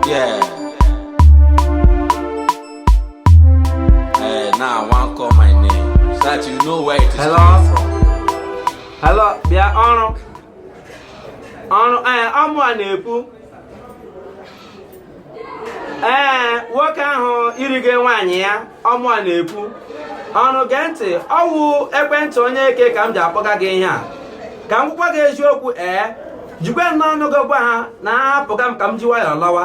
Yeah. Hey, now I want call my name. So that you know where it is Hello? coming from. Hello, bịa ọrụ. Ọrụ, ee, ọ mụa na-ekwu. Ee, nwoke ahụ i rige nwaanyị ya. ọ mụa na-ekwu ọrụ gee ntị ọ wụ ekwentị onye eke ka m ji akpọga gị ihe a ka m gwakwa gị eziokwu ee jikwe n'ọnụ gị gwa ha na ahapụga m ka m ji nwayọọ lawa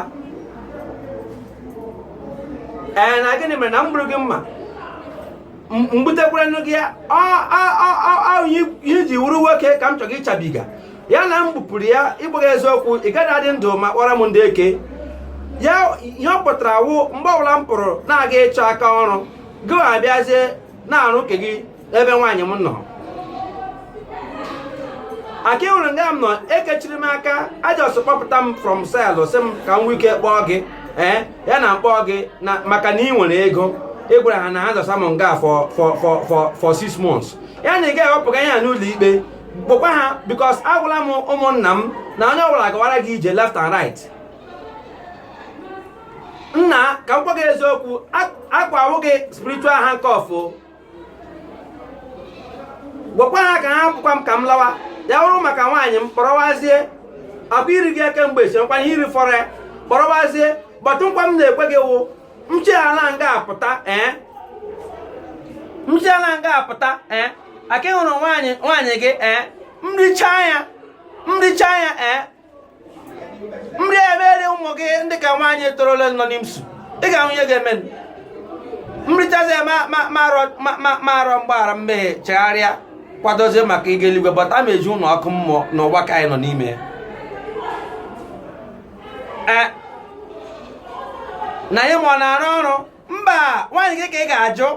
ee na gịnị mere na m gburu gị mma m gbutekwara nụ gị ya ihe i ji wụrụ nwoke ka m chọrọ ịchabi gị ya na m gbupụrụ ya ịgwa gị eziokwu ị gaghị adị ndụ akpọrọ m ndị eke ya ihe ọ pụtara wụ mgbe ọbụla m pụrụ na-aga ịchọ aka ọrụ gị abịazie na-arụ nke gị ebe nwaanyị m nọ aka ị hụrụ nga m nọ ekechiri m aka a just kpọpụta m from cell sị m ka m nwee ike kpọọ gị ee eh, ya na m kpọọ gị na maka na ị nwere ego ị gwara ha na ha dọsa m nga for for for for six months ya na ị ga-ewepụga ihe a n'ụlọ ikpe gwakwa ha because agwala m ụmụnna m na onye ọbụla gawara gị ije left and right nna ka m gwa gị eziokwu akwa awụ gị spiritual handcuff gwakwa ha ka hapụkwa m ka m lawa ya wụrụ maka nwaanyị m kpọrọwazie akwa i rige ya kemgbe esi nkwa ihe i rifọrọ ya kpọrọwazie but nkwa m na-ekwe gị wụ m shila nga a pụta ee eh? m shila nga a pụta ee eh? aka ị hụrụ nwaanyị nwaanyị gị ee eh? m richa ya m richa ya ee m riwere ụmụ gị ndị ka nwaanyị torole nọ n'IMSU ị ga-ahụ ihe ga-eme m richazi ya m arịọ mgbaghara mmehie chegharịa kwadozie maka ịga eluigwe but ma eji ụlọ ọkụ mmụọ n'ụwa ka anyị nọ n'ime ya eh, na ihe m ọ na-arụ ọrụ mba nwaanyị gị ka ị ga-ajụ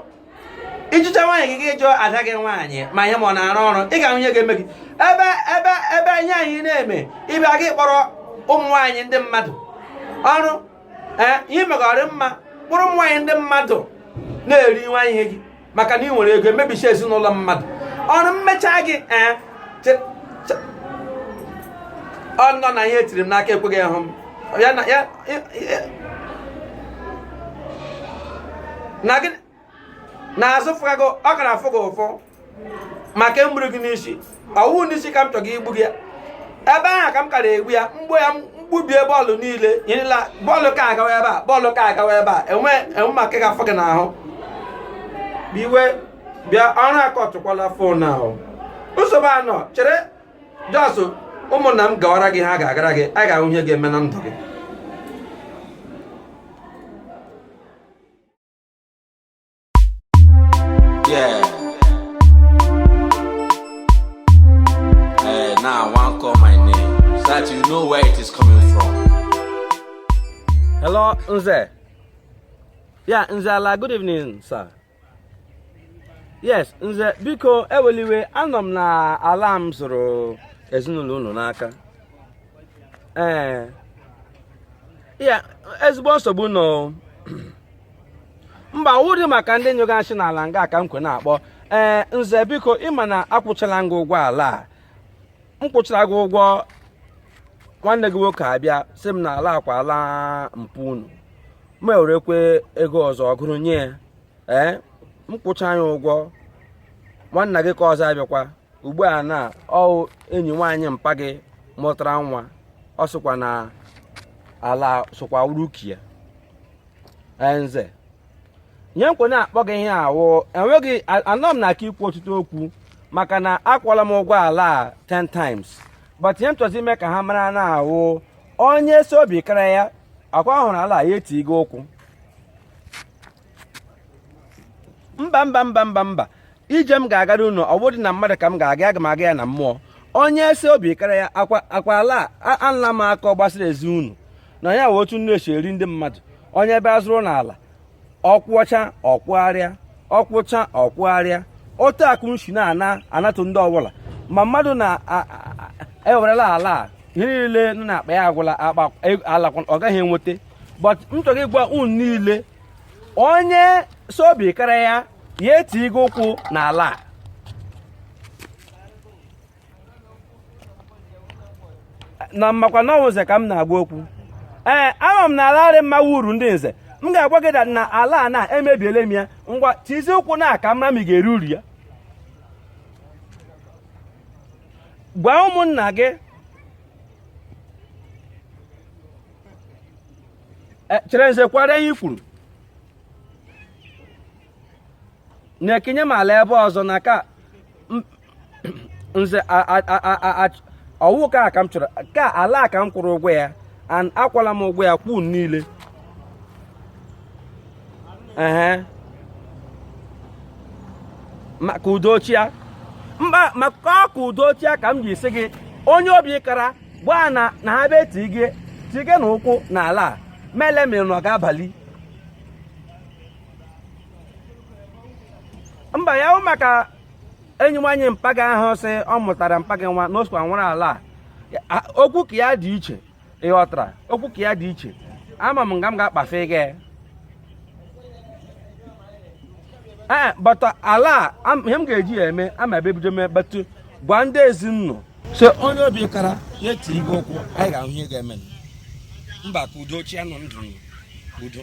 ị jụcha nwaanyị gị gị jụọ ada gị nwaanyị ma ihe m ọ na-arụ ọrụ ị ga-ahụ ihe ga-eme gị ebe ebe ebe ihe ị na-eme ibe gị kpọrọ ụmụ nwaanyị ndị mmadụ ọrụ eh, ihe megọrị mma kpụrụ ụmụ nwaanyị ndị mmadụ na-eri nwa ihe gị maka na ị nwere ego i mebicha ezinụlọ mmadụ ọrụ m mecha gị ee eh, ọ nọ na ihe e tiri m n'aka ekweghị ịhụ m ya na ya na gị na-azụ fụga gị ọ gara afụ gị ụfụ maka egburu gị n'isi ọwụ n'isi ka m chọga igbu gị ebe ahụ ka m kara egbu ya mgbo ya mgbubie bọọlụ niile nyerela bọọlụ ka agawa ebe a bọọlụ ka agawa ebe a enwe enwe maka ga-afọ gị n'ahụ iwe bịa ọrụ akọtụkwala fon ahụ nsogbu anọ chere jọsụ ụmụnna m gawara gị ha ga-agara gị a ga-ahụ ihe ga-eme na ndụ gị Yeah. Hey, now I want to call my name so that you know where it is coming from. Hello, Nze. Yeah, Nze ala, good evening, sir. Yes, Nze, biko ewela iwe anọ m na ala m zụrụ ezinụlọ unu n'aka. Ee. Yeah, ezigbo nsogbu nọ. mba wụdị maka ndị nyụga nshị n'ala nga ka m kwe na-akpọ ee nze biko ị ma na akwụchala gị ụgwọ ala a m kwụchara gị ụgwọ nwanne gị nwoke abịa sị m na ala wụkwa ala mpa unu m ewerekwa ego ọzọ gụrụ nye ya ee m kwụcha ya ụgwọ nwanna gị nke ọzọ abịakwa ugbu a na ọwụ enyi nwaanyị mpa gị mụtara nwa ọ sịkwa na ala sokwa wụrụ nke ya nze ihe m kwe na-akpọ gị ihe a wụ enweghị anọ m na aka ikwu ọtụtụ okwu maka na akwụọla m ụgwọ ala a 10 times but ihe m chọzi ime ka ha mara na ọwụ onye sị obi kara ya akwa hụrụ ala ya etige ụkwụ mba mba mba mba mba ije m ga-agara unu ọ wụdị na mmadụ ka m ga-aga aga m aga ya na mmụọ onye sị obi kara ya akwa ala ala m aka ọ gbasara ezi unu na ya wee otu unu esi eri ndị mmadụ onye bịa azụrụ unu ala ọ kwụchaa ọ kwụgharịa ọ kwụchaa ọ kwụgharịa otu a ka unu shi na-ana anatụ ndị ọwụla ma mmadụ na-ewerela e ala ihe niile nọ n'akpa ya agwụla akpa e, ala ọ gaghị enweta but m chọrọ ịgwa unu niile onye sị obi kara ya ya etige ụkwụ n'ala a na mmakwa na ọwụ nze ka m na-agwa okwu ee ama m na ala arị mma wụrụ ndị nze m ga-agwa gị na ala a na emebiele m ya ngwa tizie ụkwụ na a ka m mara ma ị ga-eri uru ya gwa ụmụnna gị e, chere nze kwara ihe i kwuru na-ekenye m ala ebe ọzọ na ka nze ọ wụ ka ka m chọrọ ka ala ka m kwụrụ ụgwọ ya and akwụọla m ụgwọ ya kwụọ niile ee ka udo chịa mba maka ka udo chịa ka m ji sị gị onye obi kara gwa na na ha bee tige tige na ụkwụ na ala a ma ele mere na ọ ga-abali mba ya wụ maka enyi nwaanyị mpa gị ahụ sị ọ mụtara mpa gị nwa na o sokwa nwere ala a Ya- a- okwu nke ya dị iche ị ghọtara okwu nke ya dị iche ama m nga m ga-akpafe gị ee but ala a am- ihe m ga-eji ya eme ama ebe ebido mee but gwa ndị ezinụlọ so onye obi kara ya tige ụkwụ anyị ga-ahụ ihe ga-eme mba ka udo chịa nọdụ n'udo